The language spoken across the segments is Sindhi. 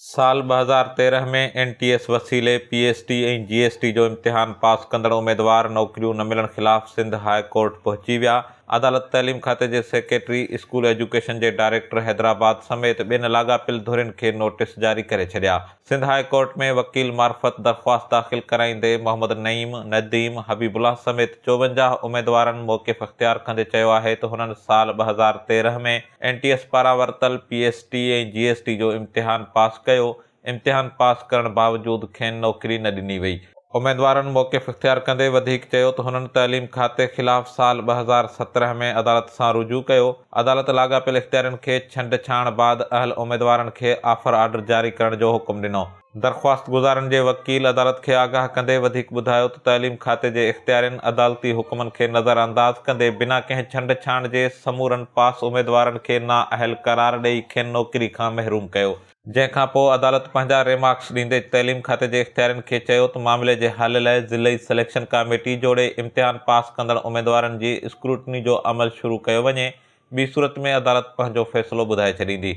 سال ٻه هزار تيرنهن ۾ اين ٽي ايس وسيلي P S T ۽ G S T جو امتحان پاس ڪندڙ اميدوار نوڪريون نه ملڻ خلاف سنڌ هاء ڪورٽ پهچي ويا، عدالت تعليم کاتي جي سيڪريٽري، اسڪول ايجوڪيشن جي ڊائريڪٽر حيدرآباد سميت ٻين لاڳاپيل ڌرين کي نوٽيس جاري ڪري ڇڏيا. سنڌ هاء ڪورٽ ۾ وڪيل معرفت درخواست داخل ڪرائيندي محمد نعيم، نديم، حبيب الله سميت چوونجاهه اميدوارن موقف اختيار ڪندي چيو آهي ته هنن سال ٻه هزار تيرنهن ۾، اين ٽي ايس پاران ورتل P S T ۽ G S T جو امتحان پاس ڪيو، امتحان پاس ڪرڻ باوجود کين نوڪري نه ڏني وئي، اميدوارن موقف اختيار ڪندي وڌيڪ چيو ته هنن تعليم کاتي خلاف سال ٻه هزار سترهن ۾ عدالت سان رجوع ڪيو، عدالت لاڳاپيل اختيارين کي ڇنڊڇاڻ بعد اهل اميدوارن کي آفر آرڊر جاري ڪرڻ جو حڪم ڏنو. درخواستگذارن جي وڪيل عدالت کي آگاهه ڪندي وڌيڪ ٻڌايو ته تعليم کاتي جي اختيارين عدالتي حڪمن کي نظرانداز ڪندي بنا ڪنهن ڇنڊ ڇاڻ جي سمورن پاس اميدوارن کي نااهل قرار ڏئي کين نوڪري کان محروم ڪيو، جنهن کان پوء عدالت پنهنجا ريمارڪس ڏيندي تعليم کاتي جي اختيارين کي چيو ته معاملي جي حل لاء ضلعي سليڪشن ڪاميٽي جوڙي امتحان پاس ڪندڙ اميدوارن جي اسڪروٽني جو عمل شروع ڪيو وڃي ٻي صورت ۾ عدالت پنهنجو فيصلو ٻڌائي ڇڏيندي.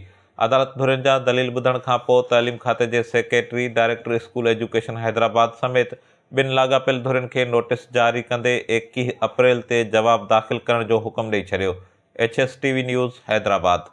عدالت ڌرين جا دليل ٻڌڻ کان پوء تعليم کاتي جي secretary, director school education Hyderabad سميت ٻن لاڳاپيل ڌرين کي نوٽيس جاري ڪندي ايڪيهه اپريل تي جواب داخل ڪرڻ جو حڪم ڏئي ڇڏيو. H S T V news Hyderabad.